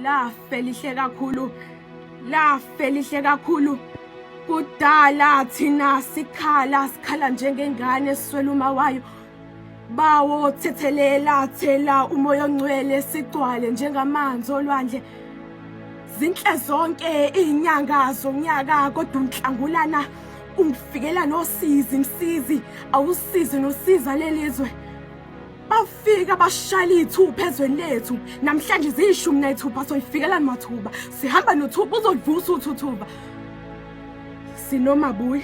lafe lihle kakhulu lafe lihle kakhulu kudala thina sikhala sikhala njengengane esiswela uma wayo bawo thethelela thela umoya ongcwele sigcwale njengamanzi olwandle zinhle zonke izinyanga zonyaka kodwa unhlangulana ungifikela nosizi msizi awusizi nosiza lelizwe bafika bashayela iy'thupha ezweni lethu namhlanje ziyishumi nayithupha soyifikelani mathuba sihamba nothuba uzolivusa uthuthuba sinomabuyi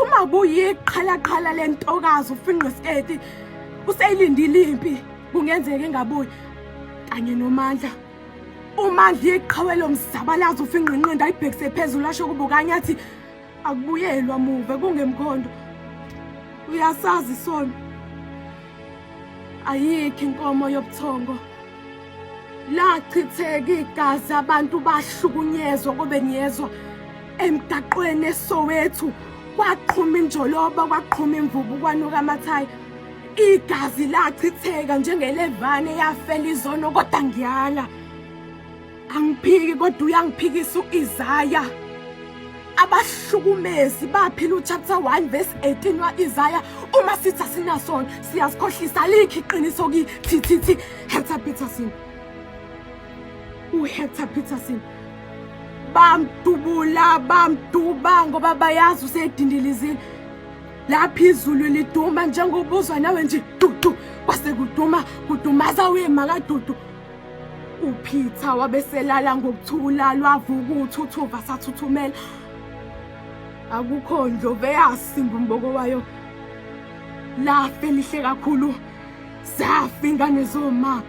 umabuyi yeqhalaqhala le ntokazi ufinqe sketi useyilindile impi kungenzeka engabuyi kanye nomandla umandla iqhawe lomzabalazo ufinqinqindi ayibhekise phezulu asho kubukanye athi akubuyelwa muve kungemkhondo uyasazi isono ayikho inkomo yobuthongo lachitheka igazi abantu bahlukunyezwa kobe niyezwa emgaqweni esowethu kwaqhuma injoloba kwaqhuma imvubu kwanuka amathayi igazi lachitheka njengelevane yafela izono kodwa ngiyala angiphiki kodwa uyangiphikisa uIsaya abahlukumezi baphila uchapter 1 verse 18 waIsaya uma sithi asinasona siyazikhohlisa likhi iqiniso ki thi thi thi Hector Peterson uHector Peterson bamdubula bamduba ngoba bayazi usedindilizini lapha izulu liduma njengobuzwa nawe nje dudu kwase kuduma kudumaza uye makadudu uPeter wabeselala ngokuthula lwavuka uthuthuva sathuthumela akukho ndlovu eyasimba umboko wayo lafe lihle kakhulu zafa ingane zoma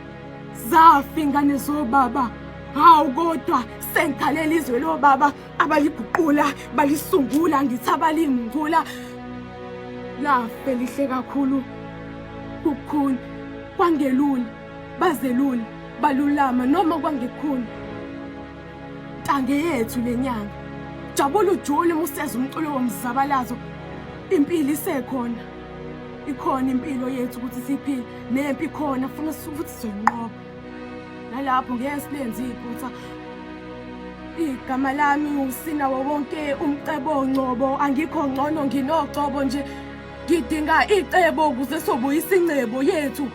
zafa ingane zobaba hawu kodwa sengikhalela izwe lobaba abaliguqula balisungula ngithi abalingcula lafe lihle kakhulu kukhulu kwangelula bazelule balulama noma kwangekhulu ntange yethu le nyanga jabula ujule museza umculo womzabalazo impilo isekhona ikhona impilo yethu ukuthi siphile nempi khona funa ukuthi soyinqoba nalapho ngeke silenze iphutha igama lami usina wonke umcebo ngcobo angikho ngcono nginocobo nje ngidinga icebo ukuze sobuyisa ingcebo yethu